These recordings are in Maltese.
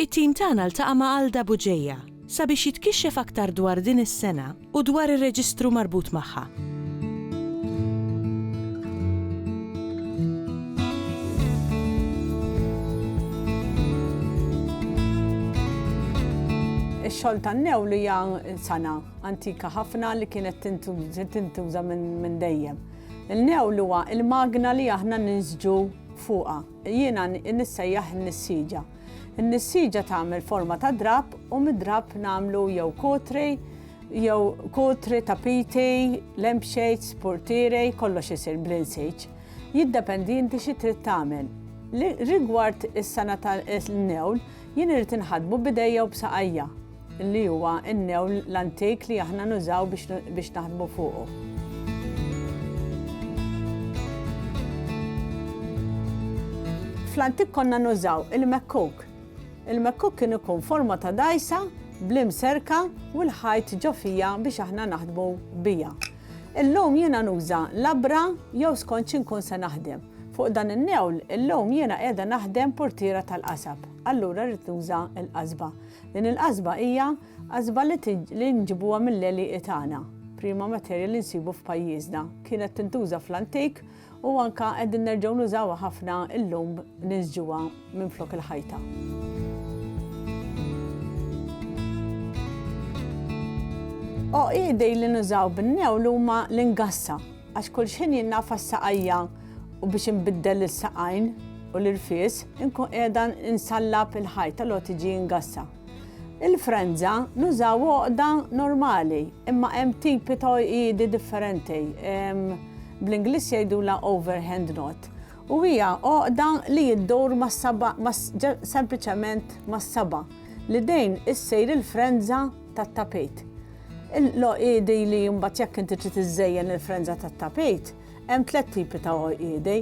It-tim tagħna ltaqa' ma' Alda Bugeja sabiex jitkixxef aktar dwar din is-sengħa u dwar ir-reġistru marbut magħha. Ix-xogħol tan-newl hija sengħa antika ħafna li kienet tintuża minn dejjem. Il-newl huwa l-magna li aħna ninsġu fuqha. Jiena nissejjaħ in-nissieġa. In-nissieġa tagħmel forma ta' drapp u mid-drapp nagħmlu jew kotri jew kotri, tapiti, lampshades, portieri, kollox isir bl-insiġ. Jiddependi inti xi trid tagħmel. Rigward is-sena tal-newl, jien irid inħaddmu b'idejja u b'saqajja. li huwa n-newl l-antik li aħna nużaw biex naħdmu fuqu. Fl-antik konna nużaw il-mekkuk. Il-mekkuk kien ikun forma ta' dajsa blim serka u l-ħajt ġofija biex aħna naħdmu bija. Illum jiena nuża labra jew skont xinkun se naħdem. Fuq dan in-newl illum jiena qiegħda naħdem portiera tal-qasab, allura rrid nuża l-qasba. Din il-qasba hija qasba li li nġibuha mill-għelieqi tagħna. Prima materja li nsibu f'pajjiżna. Kienet tintuża fl-antik u anke qegħdin nerġgħu nużawha ħafna llum niżġuha minflok il-ħajta. Għoqidi li nużaw bin-newl huma l-ingassa. Għax kull xħin jien nagħfa s-saqajja u biex inbiddel is-saqajn u l-irfies inkun qiegħda nsallab il-ħajt allura tiġi ngassa. Il-frenza nużaw għoqda normali imma hemm tipi ta' għoqidi differenti. Bl-Ingliż jgħidulha overhand knot u hija għoqda li iddur mas-saba' sempliċement mas-saba' l-idejn issir il-frenza tat-tapit. L-għoqiedi li mbagħad jekk inti trid iżżejjen il-frenża tat-tapit, hemm tliet tipi ta' għoqiedi.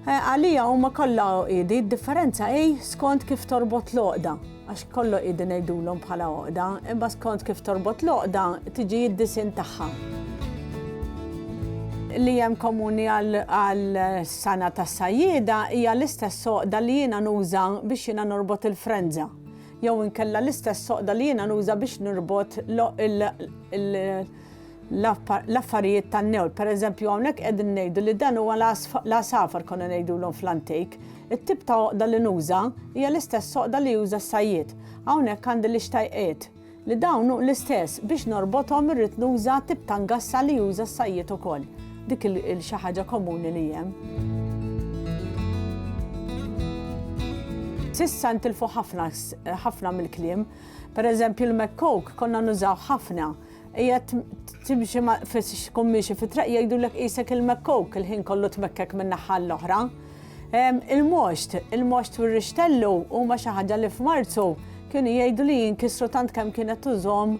Eh, għalija huma kollha għoqiedi, d-differenza hi skont kif torbot l-għoqda, għax kollu għoqiedi ngħidulhom bħala għoqda, imma skont kif torbot l-għoqda tiġi id-disin tagħha. Li hemm komuni għal sana tas-sajjieda hija l-istess għoqda li jiena nuża biex jiena norbot il-frenża. jew inkella l-istess soqda li jiena nuża biex nirbot l-affarijiet tan-newl. Pereżempju hawnhekk qegħdin ngħidu li dan huwa l-għasafar konna ngħidulhom fl-antik. It-tip ta' għoqda li nuża hija l-istess soqda li juża s-sajjied. Hawnhekk għandi l-ixtajqiet, li dawn hu l-istess, biex norbothom irrid nuża tip ta' ngassa li juża s-sajjied ukoll. Dik il-xi ħaġa komuni li hemm. S'issa ntilfu ħafna mill-kliem. Per eżempju l-mekkoke konna nużaw ħafna. Qiegħed timxi tkun miexi fit-traq jgħidulek qisek il-mekkoke il-ħin kollu tmekkek minn naħa l-oħra. Il-moxt, il-moxt u r-rixtellu huma xi ħaġa li f'Marzu kienu jgħidu li jinkisru tant kemm kienet tużhom